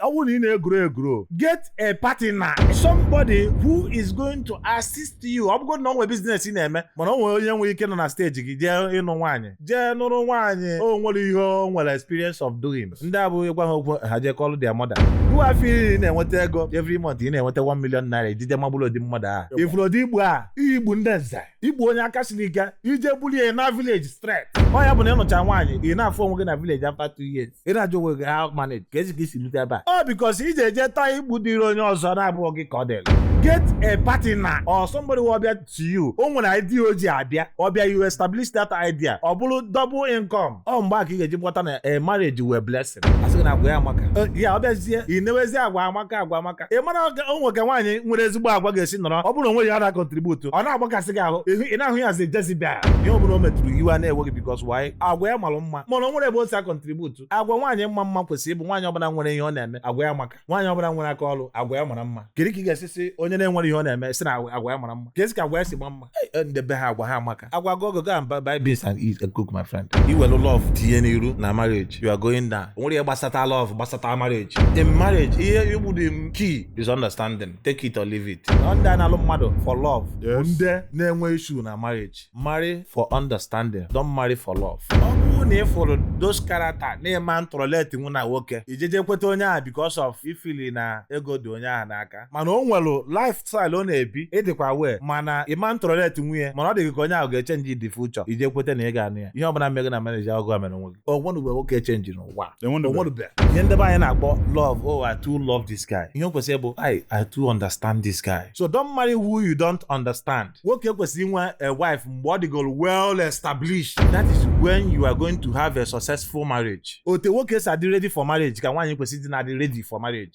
ọ bụrụ na ị na-egwuru egwuru get a partner somebody who is going to assist you ọ bụgodị na o nwee business ị na-eme mana ọ nwere onye nwere ike nọ na steji gị jee ịnụ nwaanyị jee nụrụ nwaanyị o nwere ihe o nwere experience of doing ndị a bụ ị gwa ha okwu ha jee kọọlụ their mother wa afụ na ị na-enweta ego every month ị na-enweta 1 million naira i jeje maburu ụdị mmadụ a ị fụrụ ụdị ibu a ibu ndị nze ibu onye aka siri ike i jee bulu ya na village straight ọ ya bụ na ị nụcha nwaanyị ị na-afụ onwe gị na village after two years ị na-ajụ onwe gị how manage keezi ka i si rute ebe a ọ because iji eje taa ibu dịrị onye ọzọ na-abụghị gị ka ọ dịrị get a partner or somebody wụ ọ bịa to you o nwere idea o ji abịa ọ bịa you establish that idea ọ bụrụ double income ọ mgbe a ka ị ga-eji kpọta na a marriage wụ a blessing a sị gị na agwa ya amaka Eh, ya ọ bịazie ị newezie agwa amaka agwa amaka aka ị mara o nwe ka nwaanyị nwere ezigbo agwa ga-esi nọrọ ọ bụrụ na o nweghị ihe ọ na-akọntributu ọ na-agbakasị gị ahụ ị na-ahụ ya as Jezebel ihe ọ bụla o metụrụ iwe a na-ewe gị because why agwa ya mara mma mana o nwerọ ebe o si akọntributu agwa nwaanyị ịma mma kwesịrị ịbụ nwaanyị ọbụla nwere ihe ọ na-eme agwa ya amaka nwaanyị ọbụla nwere aka ọrụ agwa ya mara mma kedu ka ị ga-esi sị onye na-enwerọ ihe ọ na-eme sị na agwa ya mara mma keezi ka agwa ya si maa mma Eh, ndị be ha agwa ha amaka agwa go go and buy beans and eat and cook my friend i welu love tinye n'iru na marriage you are going down o nwerọ ihe gbasata love gbasata marriage in marriage ihe bụ the main key is understanding take it or leave it ọ ndị a na-alụ mmadụ for love bụ Yes. ndị na-enwe issue na marriage marry for understanding don't marry for love ọ bụrụ na ị fụrụ those character na ị ma ntolerate nwu na nwoke i jeje kweta onye ahụ because of ị fụlụ na ego dị onye ahụ n'aka mana o nwere lifestyle ọ na-ebi ị dịkwa aware ma na ị ma ntolerate nwu ya mana ọ dị gị ka onye ahụ ga-echenji in the future i jee kweta na ị ga-anụ ya ihe ọbụla mee gị na marriage ọ gịwa mere onwe gị o nwenube nwoke chenji n'ụwa Enwenube. o nwenube ihe ndị be anyị na-akpọ love oh I too love this guy ihe o kwesịrị ịbụ I I too understand this guy so don't marry who you don't understand nwoke kwesịrị inwe a wife mgbe ọ dịgoro well established that is when you are going to have a successful marriage otu nwoke si adị ready for marriage ka nwaanyị kwesịrị isi na-adị ready for marriage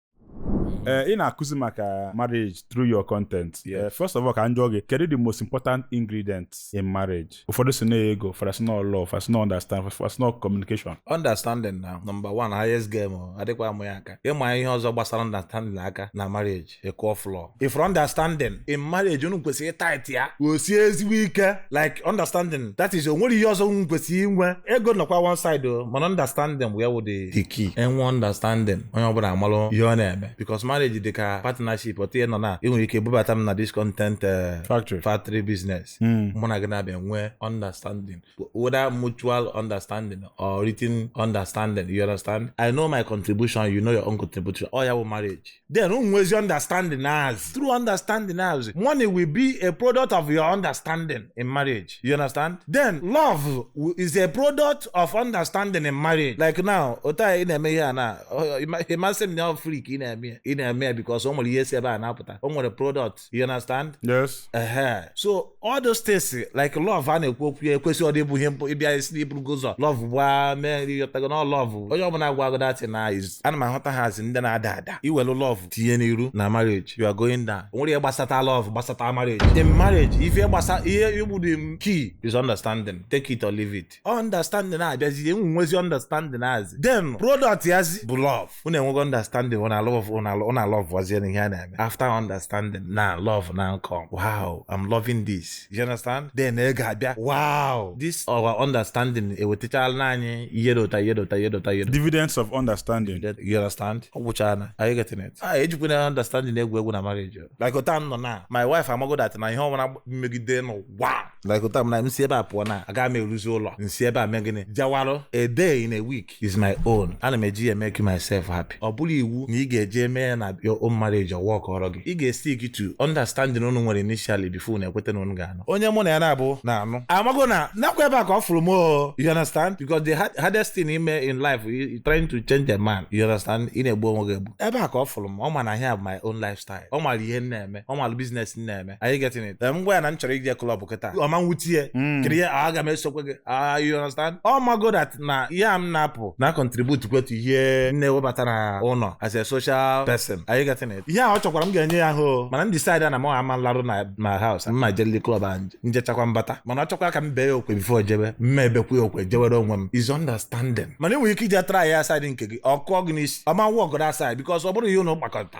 ee eh, ị na-akụzi maka marriage through your content eh, first of all ka m jụọ gị kedu the most important ingredient in marriage ụfọdụ sị na ọ ego ụfọdụ asị na ọ love ụfọdụ asị na ọ understand ụfọdụ asị na ọ communication understanding na number one highest game adịkwa amụ ya aka ị maa ihe ọzọ gbasara understanding aka na marriage ị kụọ floor ị fụ understanding in marriage unu kwesịrị ịtait ya o sie ezigbo ike like understanding that is o nwere ihe ọzọ unu kwesịrị inwe ego nọkwa one side o mana understanding wee wụ the key e nwee understanding onye ọbụla amalụ ihe ọ na-eme because marriage dị ka partnership otu a ị nọ na ị nwere ike bubata m na this content eh, factory factory business hmm. mụ na gị na-abịa nwee understanding whether mutual understanding or written understanding you understand I know my contribution you know your own contribution ọ ya bụ marriage then unu nwezi understanding as through understanding as money will be a product of your understanding in marriage you understand then love wi- is a product of understanding in marriage like now otu a ị na-eme ihe a na ọ- ịma- ị ma sị m na ọ free ka ị na-eme ya. ị na-eme ya because o nwere ihe si ebe a na-apụta o nwere product you understand yes uh-huh. so all those things like love a na-ekwu okwu ya ekwesịrọdị ịbụ ihe mbụ ị bịa sị na i burugo ụzọ love ba man ị ghọtago na love onye ọbụla gwa gị that na is ana m ahụta ha as ndị na-ada ada i welu love tinye n'iru na marriage you are going down o nwerọ ihe gbasata love gbasata marriage in marriage ife gbasa ihe bụ the main key is understanding take it or leave it understanding na-abịazi unu nwezi understanding azi then product yazi bụ love unu enwego understanding unu alove unu alọvụazie ihe a na-eme after understanding na love now come wow I'm loving this you understand then ị ga-abịa wow this our understanding ewetachala anyị ihe dị otu a ihe dị otu a ihe dị otu a ihe dividends of understanding you understand ọ gwụchana are you getting it ah ejikwana understanding egwu egwu na marriage like otu a now na my wife amago that na ihe ọbụla m megide n'ụwa like kịta m na m si ebe a pụọ na aga m eruzi ụlọ m si ebe a mee gịnị jawarụ a day in a week is my own ana m eji ya make myself happy ọ bụrọ iwu na ị ga-eji eme ya na your own marriage ọ work ọrọ gị ị ga-estick to understanding unu nwere initially before unu ekweta na unu ga-anụ onye mụ na ya na-abụ na-anụ amago na nakwa ebe a ka ọ fụrụ m o you understand because the hard- hardest thing ime in life you- you trying to change a man you understand ị na-egbu onwe gị egbu ebe a ka ọ fụrụ m ọ ma na ihe a bụ my own lifestyle ọ mara ihe m na-eme ọ mara business m na-eme are you getting it Em, ngwa ya na m chọrọ ije club kịta ọ ma nwute ya Mm. kiri ya "Ah, aga m esokwe gị Ah, you understand ọ mago that na ihe a m na-apụ na contribute kwa to ihe m na-ewebata na ụlọ as a social person are you getting it ihe a ọ chọkwara m ga-enye ya ahụ mana m decide na m ama alaru na na house mma jeli club a m jechakwa m bata mana ọ chọkwa ka m bee ya okwe before jebe mma ebekwa ya okwe jewere onwe m is understanding mana i nwere ike ije try ya side nke gị ọ kụọ gị n'isi ọ ma work that side because ọ bụrọ ihe unu kpakọta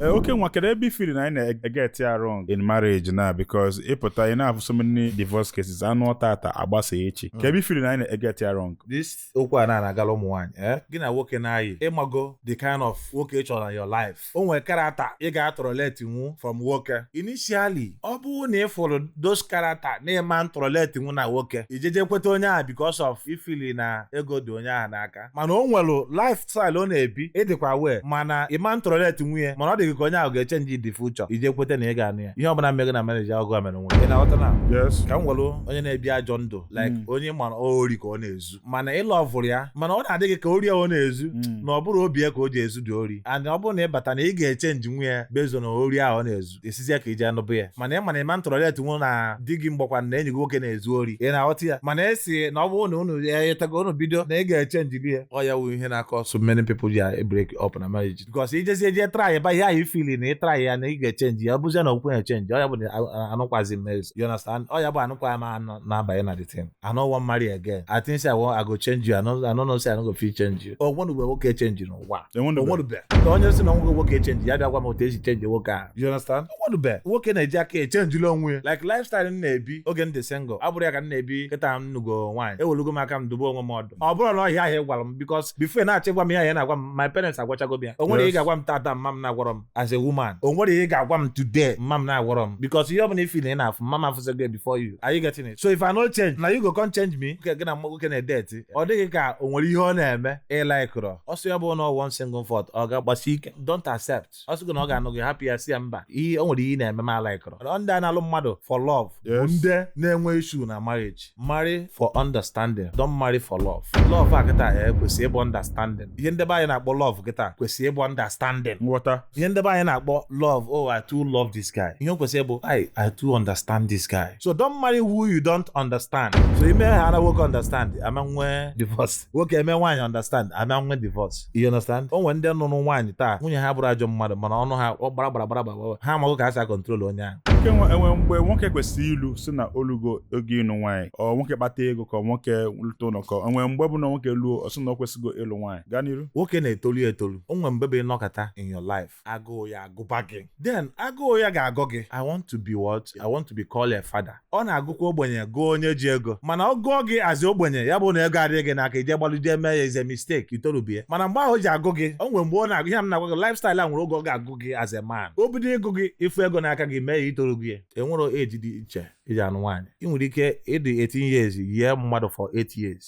Eh, okay ngwa kedu ebe i feel na anyị na-eget ya wrong in marriage na because ị pụta ị na-afụ so many divorce cases a nụọ taata a gbasaa echi kee ebe i feel na anyị na-eget ya wrong this okwu a na-agala ụmụ nwaanyị eh? gị na nwoke na-ayị ị mago the kind of nwoke ị chọrọ na your life o nwere character ị ga-atolerate nwu from nwoke initially ọ bụrụ na ị fụrụ those character na ị ma ntolerate nwu na nwoke ijeje kweta onye ahụ because of i feel na ego dị onye ahụ n'aka mana o nwere lifestyle ọ na-ebi ịdịkwa wee mana ị ma ntolerate nwu ya mana ọ dị gị ka onye ahụ ga-echange in the future i je kweta na ị ga-anụ ya ihe ọbụla mee gị na-emanage ya ọ gị mere onwe ị na-aghọta na yes ka m were onye na-ebi ajọ ndụ like onye mara ori ka ọ na-ezu mana ị lọvụrụ ya mana ọ na-adị gị ka ori ọ na-ezu Mm. na ọ bụrọ obi ya ka o ji ezu the ori and ọ bụrụ na ị bata na ị ga-echenjinwu ya bezo na ori ahụ ọ na-ezu esizi ya ka iji anụbụ ya mana ị ma na ị ma tolerate nwu na di gị ma ọ bụkwanụ na enyi gị nwoke na-ezu ori ị na-aghọta ya mana esi na ọ bụrụ na unu ya etago unu bido na ị ga-echenji gị ya ọ ya wụ ihe na-akọ so many people ji break up na marriage because ijezie jee try ba ihe ahụ ị fiili na ị try ya na ị ga-echenji ya ọ bụzie na okwu ya chenji ọ ya bụ na a- a- anụkwazi m n'ezu you understand ọ ya bụ anụkwa m anụ na-abanye na the thing I no wan marry again I think say I wan I go change you I no I no know say I no go fit change you o nwere mgbe nwoke chenji n'ụwa Enwere mgbe. onwerube na onye si na nwoke nwoke chenji ya bịa gwa m otu esi chenji nwoke a you understand onwerube nwoke na-eji aka echenjila onwe ya like lifestyle m na-ebi oge m dị single abụrọ ya ka m na-ebi kịta m nụgo nwaanyị ewelugo m aka m dobe onwe m ọdụ ọ bụrọ na ọ ihe ahụ ị gwara m because before ị na-achọ ịgwa m ihe ahụ ị na-agwa m my parents agwachago m ya o nwerọ ihe ị Yes. ga-agwa m taata mma m na-agwarọ m as a woman o nwerọ ihe ị ga-agwa m today mma m na-agwarọ m because ihe ọ bụla ị fiili na ị na-afụ mma m afụsịgo before you are you getting it so if I no change na you go come change me nke gị na nwoke na-edeti ọ dị gị ka o nwere ihe ọ na-eme ị laịkịrọ ọ sọ ya bụ na one single fault ọ ga-agbasi ike don't accept ọ sịgo na ọ ga-anụ gị hapụ ya si ya mba ihe o nwere ihe ị na-eme m alaịkọrọ Ọ ndị a na-alụ mmadụ for love bụ Yes. ndị na-enwe issue na marriage marry for understanding don't marry for love love a kịta ya kwesị ịbụ understanding ihe nde be anyị na-akpọ love kịta kwesị ịbụ understanding nghọta ihe nde be anyị na-akpọ love oh i too love this guy ihe o kwesịrị bụ i i too understand this guy so don't marry who you don't understand so ime ha na nwoke understand a ma nwee divorce nwoke eme nwaanyị understand a ma nwee divorce you understand o nwere ndị nụrụ nwaanyị taa nwunye ha bụrụ ajọ mmadụ mana ọnụ ha ọ gbara gbara gbara gbara gbara. ha amaghị ka ha si akọntrol onye ahụ Nwoke nwe- enwe mgbe nwoke kwesịrị ilu si na o lugo oge ịnụ nwaanyị ọ nwoke kpata ego ka nwoke lụta ụlọ ka o nwee mgbe bụ na nwoke luo ọ sị na ọ kwesịgo ịlụ nwaanyị gaa n'iru nwoke na-etolu ya etolu o nwere mgbe bụ ị nọkata in your life agụụ ya agụba gị then agụụ ya ga-agụ gị i want to be what i want to be called a father ọ na-agụkwa ogbenye gụọ onye ji ego mana ọ gụọ gị as ogbenye ya bụ na ego adịghị gị n'aka ị je gbalụ je mee ya it's a mistake i torubie mana mgbe ahụ o ji agụ gị o nwere mgbe ọ na-agụ ihe m na-agwa gị lifestyle a nwere oge ọ ga-agụ gị as a man o bido ịgụ gị ị fụ ego n'aka gị mee ya i torugo e nwerọ age dị iche e ji anụ nwaanyị ị nwere ike ịdị 18 years yie mmadụ for 8 years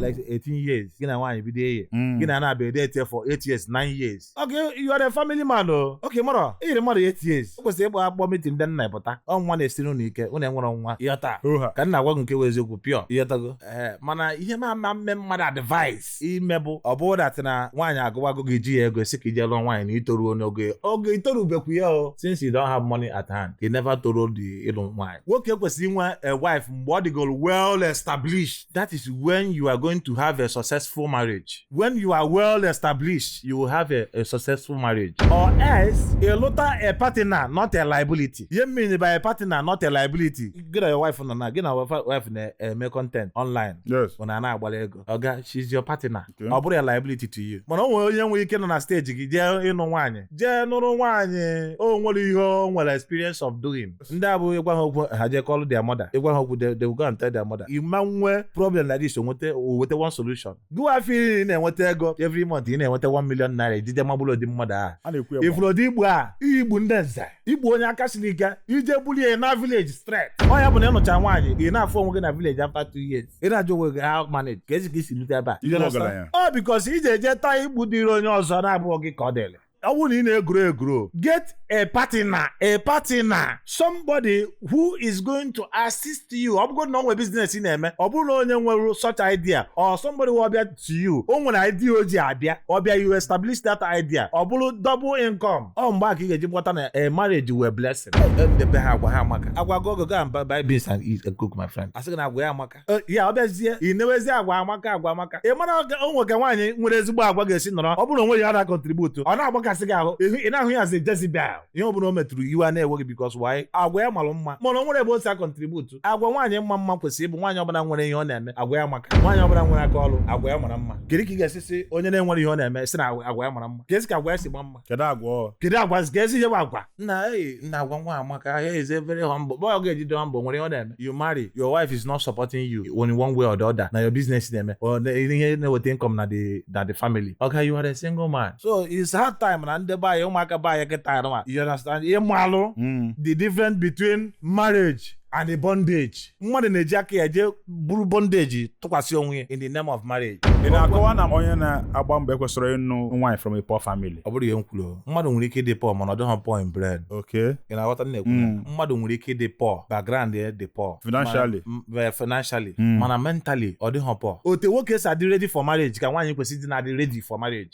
like 18 years gị na nwaanyị bido eye Mm. gị na na-abịa edeeti for 8 years 9 years okay you are a family man o oke mara iyiri mmadụ 8 years o kwesịrị ịgba akpọ meeting ndị nna ị pụta ọ nwa na-esiri unu ike unu enwerọ nwa ị ghọta ka m na-agwa gị nke wụ eziokwu pure ị ghọtago ee mana ihe m ama mme mmadụ advice ime bụ ọ bụrụ dat na nwaanyị agụwago gị i jihị ego sị ka i jee lụọ nwaanyị na i toruo n'oge oge itorubekwu ya o since you don't have money at hand you never torudị ịlụ nwaanyị nwoke kwesịrị inwe a wife mgbe ọ dịgoro well established that is when you are going to have a successful marriage when you are well established you will have a, a successful marriage or else ịlụta a partner not a liability ihe m mean by a partner not a liability gị na your wife nọ na gị na wife na-eme content online yes ọ na-ana agbara ego oga she's your partner Okay. ọ bụrọ a liability to you mana o nwere onye nwere ike nọ na steji gị jee ịnụ nwaanyị jee nụrụ nwaanyị o nwerọ ihe o nwere experience of doing ndị a bụ ị gwa ha okwu ha jee kọlụ their mother ị gwa ha okwu they they will go and tell their mother ị ma nwee problem like this o nweta o weta one solution gụwa afọ ị na-enweta ego every month ị na-enweta 1 million naira ijide maburu ụdị mmadụ ahụ a na-ekwu ya ị fụrụ ụdị ibu a ibu ndị nze ibu onye aka siri ike i jee bulu ya na village straight ọ ya bụ na ị nụcha nwaanyị ị na-afụ onwe gị na village after two years ị na-ajụ onwe gị how manage kezi ka i si rute ebe a You understand? Ibu ọgaranya. ọ bikos i ji eje take ibu dịrị onye ọzọ na-abụghị gị ka ọ dịrị ọ bụrụ na ị na-eguro eguro get a partner a partner somebody who is going to assist you ọ bụgodu na o nwere biznes ị na-eme ọ bụrụ na onye nwere such idea or somebody will bịa to you o nwere idea o ji abịa ọ bịa you establish that idea ọ bụrụ double income ọ mgbe a ka ị ga-eji gbọta na a marriage nwere blessing nde be ha agwa ha amaka agwa go go go and buy- buy beans and eat and cook my friend asị gị na agwa ya amaka Eh, ya ọ bịazie ị newezie agwa amaka agwa amaka ị mara o- o nwe ka nwaanyị nwere ezigbo agwa ga-esi nọrọ ọ bụrụ na o nwerọ ihe ọ na-akontributu ọ na-agbakasị gị ahụ ịhụ- ị na-ahụ ya as a Jezebel ihe ọ bụla o metụrụ iwe a na-ewe gị bikos why agwa ya malụ mma mana o nwerọ ebe o si akontributu agwa nwaanyị ịma mma kwesịrị ịbụ nwaanyị ọbụla nwere ihe ọ na-eme agwa ya amaka nwaanyị ọbụla nwere aka ọrụ agwa ya mara mma kedu ka ị ga-esi si onye na-enwerọ ihe ọ na-eme si na agwa ya mara mma kezi ka agwa ya si maa mma kedu agwa kedu agwa kezi ihe bụ agwa nna anyị na agwa nwa a amaka ya is a very humble boy ọ ga-eji dị humble nwere ihe ọ na-eme you marry your wife is not supporting you in one way or the other na your business na ime ihe na-eweta income na the na the family okay you are a single man so it's high time na ndị be anyị ụmụaka be anyị kịta ji mmalụ hmm. the difference between marriage and the bondage mmadụ na-eji aka ya jee buru bondage tụkwasị onwe ya in the name of marriage ị na-akọwa na onye na-agba mbọ ekwesịrọ ịnụ nwaanyị from a poor family ọ bụrọ ihe m kwuru mmadụ nwere ike ịdị pọ mana ọ dịghị pọ in brain okay ị na-aghọta m na-ekwu ya? Mm. mmadụ nwere ike ịdị pọ background ya dị pọ Financially. Mana- m- eh, financially Mm. mana mentally ọ dịghị pọ otu nwoke si adị ready for marriage ka nwaanyị kwesịrị ịdị na-adị ready for marriage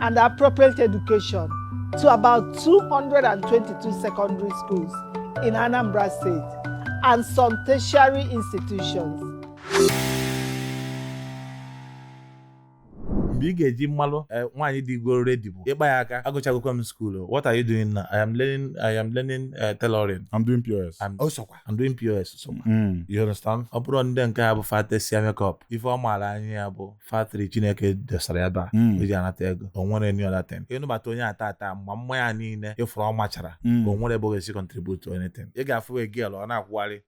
and appropriate education to about 222 secondary schools in Anambra State and some tertiary institutions. mgbe ị ga-eji mmalụ eh, nwaanyị dịgoro redi bụ ị kpa ya aka agụchagokwa m skuulu what are you doing now i am learning i am learning eh, tailoring I'm doing POS. I'm, oh, sokwa. I'm doing pos sokwa Mm. you understand ọ bụrụ ndị nke ha bụ fatesịa makeup ife ọ ma naanị ya bụ factory chineke desara ya ba hmm. eji anata ego o nwere any other thing ị nụbata onye a taa taa ma mma ya niile ị fụrụ ọ machara hmm. o nwere ebe ọ ga-esi contribute anything ị ga-afụ a girl ọ na-akwụgharị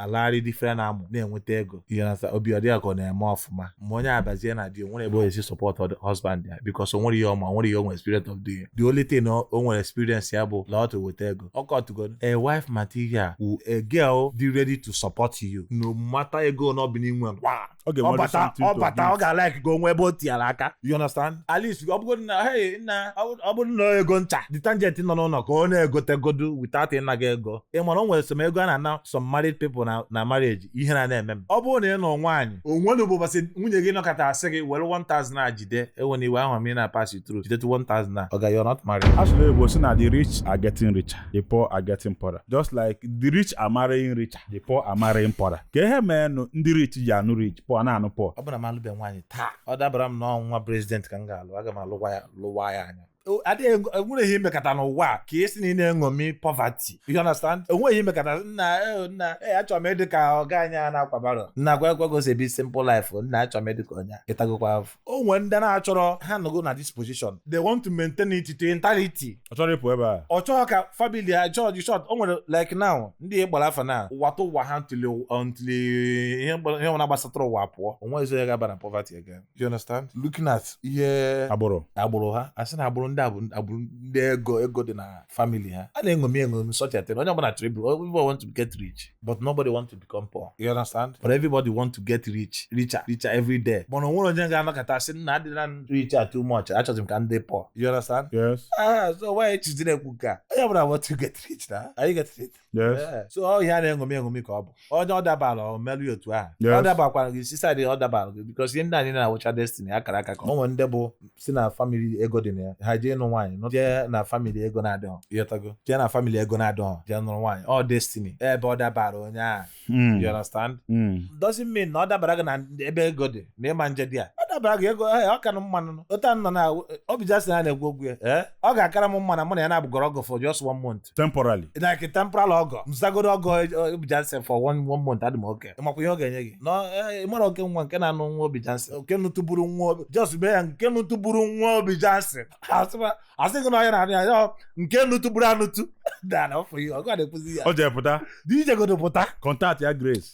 alagharị different amụ na-enweta ego you understand obi adị ya ka ọ na-eme ọfụma ma onye a bazie na di o nwere ebe ọ ga-esi support the husband ya because o nwere ihe ọ ma o nwere ihe o nwere experience of doing the only thing o nwere experience ya bụ laa ọtụ weta ego ịghọtago a wife material wu a girl dị ready to support you no matter ego na ọ bụ n'inwe ọ ga-enwe ọbata something to ọbata ọ give. ga-alike ka o nwee ebe o tinyere aka you understand at least ọ bụrụ na hey nna ọ bụrụ- ọ bụrụ na ọ ego ncha detergent nọ n'ụlọ ka ọ na-egotegodo without ịna gị ego ị mara o nwere some ego a na-ana some married people na na marriage ihe na na-eme m ọ bụrụ na ị nụọ nwaanyị onwe na ụbọchị nwunye gị nọkata asị gị were 1000 a jide enwena iwe ahụ m na pass you through jide 1000 a ọ ga you're not married Actually, Igbo say na the rich are getting richer, the poor are getting poorer. Just like the rich are marrying richer. the poor are marrying poorer ka ihe meenụ ndị rich ji anụ rich poor na-anụ poor ọ bụrụ na m alụbe nwaanyị taa ọ dabara m na ọ nwa president ka m ga-alụ aga m alụwa ya lụwa ya anya O- adịghị ego- enwere ihe imekata n'ụwa a ka a sị na ị na-eṅomi poverty you understand enweghị ihe imekata nna eh, nna eh, achọrọ m ịdị ka ọga anyị a na-akwa barrow nna nekwa ka o si ebi simple life o, nna achọrọ m ịdị ka onye a. ịtagokwa afọ o nwere ndị na-achọrọ ha nọgo na this position they want to maintain it to entirety ọ chọrọ ịpụ ebe a ọ chọrọ ka family ya chọọ dị short o nwere like now ndị gbara afa na ụwa tụ ụwa ha until until ihe gbara- ihe ọbụla gbasatara ụwa pụọ onwe ezo ya ga-aba na poverty again you understand looking at ihe agbụrụ agbụrụ ha asị na agbụrụ ndị a bụ agbụrụ ndị ego ego dị na family ha a na-eṅomi eṅomi such a thing onye ọbụla chọrọ ịbụ everybody want to get rich but nobody want to become poor you understand but everybody want to get rich richer richer every day mana o nwere onye ga-anọkata sị nna adịla richer too much achọzi m ka m dị poor you understand yes ah so why e jizi na-ekwu nke a onye ọbụla want to get rich na are you getting it yes yeah. so ọ ihe a na-eṅomi eṅomi ka ọ bụ onye ọ dabara ọ merụ otu ahụ ọ dabakwara gị si side ọ dabara gị because ihe ndị anyị na-awụcha destiny akara aka ka ọ nwere ndị bụ si na family ego dị na ya ha jee ịnụ nwaanyị nọ jee na family ego na-adịghọ ịghọtago jee na family ego na-adịghọ jee nụrụ nwaanyị ọ destiny ebe ọ dabara onye ahụ Mm. you understand Mm. doesn't mean na ọ dabara gị na ebe ego dị na ị ma ejedị ya ọ dabara gị ego eh, ọ ka na mma nụ otu a nọ na Obi Jackson na-egwu ogwu ya eh, ọ ga-akara m mma na mụ na ya na-abụgodo ọgọ for just one month month temporarily like temporal ọgọ m zagodo ọgọ eh, Obi Jackson for one one month adị m okay ị makwa ihe ọ ga-enye gị nọ eh, ị mara oke nwa nke na-anụ nwa Obi Jackson nke nụtụburu nwa Obi just mee ya nke nụtụburu nwa Obi Jackson Asịkwa- asị gị na onye na-anụ ya ya nke nụtụburu anụtụ dara ọfụ ihe ọgọ a na-ekwuzi ya o jee pụta jegodo pụta contact ya grace